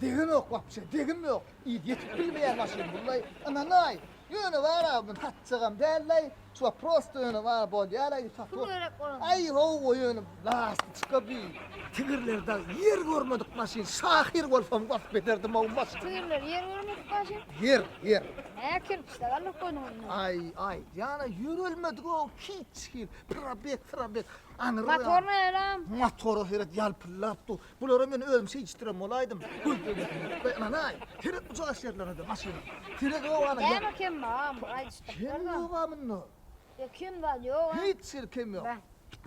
Degimok wapşe, degimok. Yz ýetip bilmeýär maşyn bullaý. Ynanaý, ýöne bar-a men satjagam dällaý. Çuwa prosto ýöne bar bolýaraý satup. Pul gerek bolanda. Aý hawa ýöne lasty çyka bi. Tigirler dag ýer görmedik maşyn. Şahyr bolsam wasp ederdim ow maşyny. Tigirler ýer görmedik maşyn? Ýer, ýer. Hä kerpiçde galyp goýnuň indi. Aý, aý, ýana ýörelmedik ow hiç hil. Probek, probek. Aňyrda. Motor näleam? Motora seret ýalpyldap dur. Bulara men özüm şeýdişdirem bolaýdym. Gözden geçirmek we ynanaý, seret bu çaýyş ýerlerine-de maşyna. Seret obany. Näme kem bar? Muňa aýdyşdyk. Kem ýog-a munda. Ýok, kem zat ýog-a. Hiç ýeri kem ýok.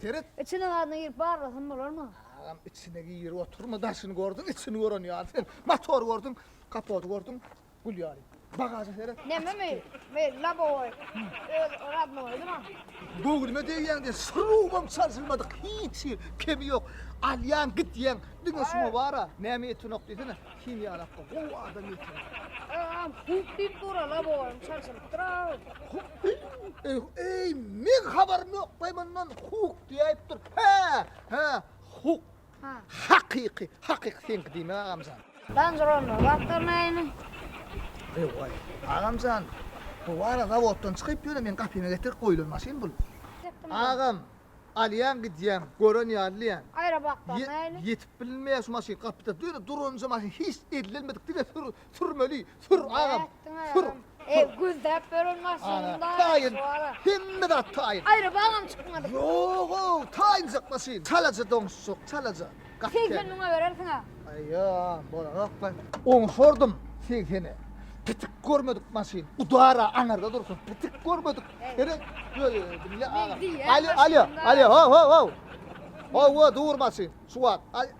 Seret. Içine zadyna girip barlasam bolarmy? Agam, içine girip oturma, daşyny gördüň, içini gören ýaly sen. Motory gördüň, kapody gördüň, Gül ýaly. Bagaja seret. Näme meý? Meý labowoý. Öz radnoýy duran. Göwnüme degýän diýen şurubam çalşylmadyk. Hiç hil kemi ýok. Alýan gitýän. Diňe şuňa bara. Näme ýetenok diýsene. Kim ýalap goý. Gowy adam ýeten. Agam huk diýip dura labowoý çalşylypdyr-a. Huk. Eý, eý, men habarym ýok baý mundan. Huk diýip dur. Hä, hä, huk. Hakyky hakyky seňki diýmek agamjan. Dandyr onda wagtal näme. Ewaý agamjan bu wara zawoddan çykyp ýöne meň gapyma getirip goýulan maşyn bul. Agam alýan gidýän gören ýalyýan. Aýra wagtal näme. Ýetip bilinmeýär şu maşyn gapyda ýöne duranja maşyn hiç ellenmedik diňe sür. Sürmeli, sür agam, sür. Eý, güldäp beren maşynyň taýyn, hemme zat taýyn. Aýry bagam çykmadyk. Ýog-ow, taýynjak maşyn, çalaja doňuşjak, çalaja. Segsen müňe berersiň-ä. Aýa, bolanokmy? Oňşardym segsene. Pitik görmedik maşyn, udara aňarda dursun, pitik görmedik. Ene, diňle agam. Alýo, alýo, alýo, ho-ho-ho. Ho-ho, dur maşyn, şu wagt.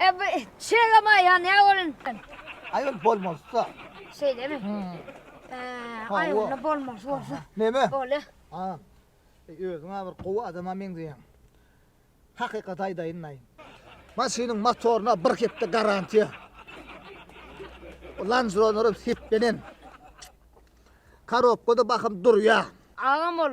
E bu çegem aýa ne bolun? Aýol bolmazsa. Şeýlemi? E, aýol bolmaz bolsa. Neme? Bole. Ha. E, özüň bir gowy adama meňzeýäň. Hakykat aýdaýyn aýyn. Maşynyň motoryna bir hepde garantiýa. Land Rover'ym seplenen. Karobkada bakym durýa. Agam ol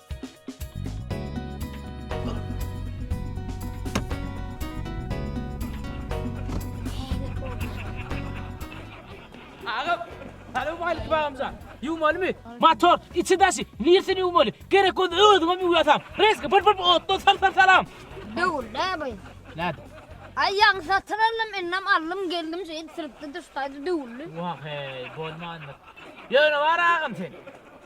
Bagamjan, ýuwmalymy? Motor, içi daşy, nirsini ýuwmaly? Gerek bolsa özüňem ýuwýarsan. Reski bir bir otda sal sal salam. Döwül, ne bu? Näde? Ay ýaň satyn aldım, innem aldım, geldim, şeýdip sürüpdi, düşdaydı, döwüldi. Wah hey, bolmandyr. Ýöne bar agam sen.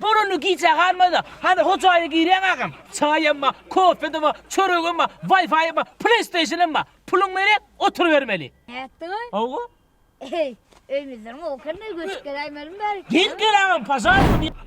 Boranda gijä galmazda, hany hojaýa girýäň agam, çaýam bar, kofem-de bar, çöregem bar, waýfaýam bar, pleýsteýşenem bar. Puluň berýär, oturybermeli. Nätdiňmi? Hawa. Eý, öýmüzden gowy ekeni, göçüp geläýmelimi bärik? Gel, gel agam, pažalysta.